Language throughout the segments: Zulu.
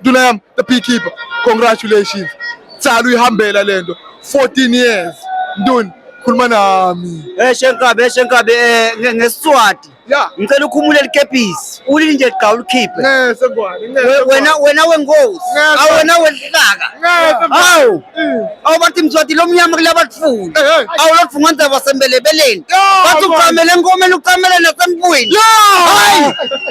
nduna yami the beekeeper congratulations tsala uyihambela lento 14 years nduni khuluma nami eh shenkabe eh, shenkabe eh, ngesiswati ya ngicela ukhumule likepisi ulili nje gqa ulikhiphe ngeke sengwane wena wena wengozi awena wehlaka ngeke hawu awu bathi mzwati lo mnyama kula batfuni awu lodvunga ndzaba wasembelebeleni bathi ucamele enkomeni ucamele nasempwini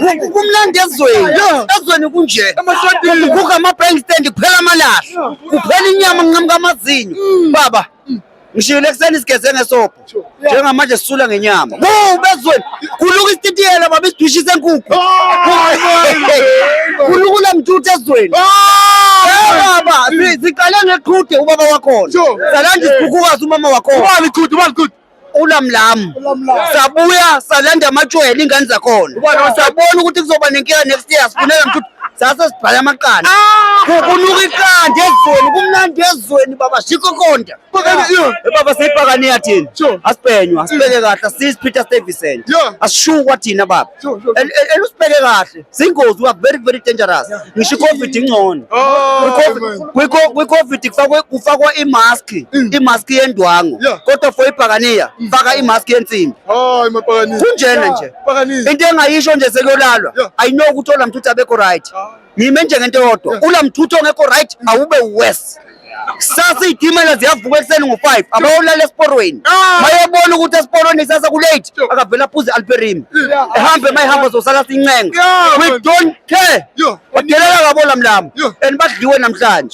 hayi kumnandi ezweni ezweni kunje kuguga ama-bank stand kuphela amalahle kuphela inyama nginqamuka amazinyo baba ngishiyile ekuseni sigeze ngesobho njengamanje sisula ngenyama bezweni kuluka isititiyela baba isidwishi senkukhu kulukula mtuthu ezweni baba siqale ngeqhude ubaba wakhona salanda isikhukhukazi umama wakhona ulamlamu sabuya salanda amatshwele ingane zakhona sabona ukuthi kuzoba nenkinga next year sifunela mtuthu sase sibhala amaqanda ah! kunuka iqanda ezweni kumnandi ezweni baba shikho konda baba siyibhakaniya thina asibhenywa asibheke kahle asisi peter stevison asishukwa thina baba elusibheke kahle singozi we are very very dangerous ngisho icovid ingcono kwicovid kufakwa imask mm. imask yendwango kodwa for ibhakaniya mm. faka imask yensimbi kunjena nje into engayisho nje sekuyolalwa ayinokuthi olamthuthi abekho right ah. ngime njengento yodwa unamthutho ongekho right awube worse kusasa iy'timela ziyavuka ekuseni ngo-five abayolala esiporweni ah! mayebona ukuthi esiporweni kusasa kulate akavele aphuze i-alperimi ehambe ma ehamba zosala sincenga we don't care badelela kabola mlamo and badliwe namhlanje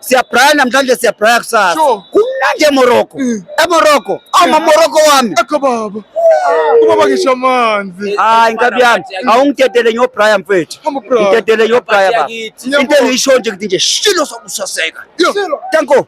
siyabraya namhlanje siyabraya kusasa Sure. kumnandi emorocco Mm. emorocco awumamorocco wami Akho baba. Ubaba ngisho amanzi. hayi nkabi yami awungidedele ngiyobraya mfethu Hamba bra. ngidedele ngiyobraya baba Ngiyakuthi. into engiyisho nje ngithi nje shilo sokusaseka Yo. Tanko.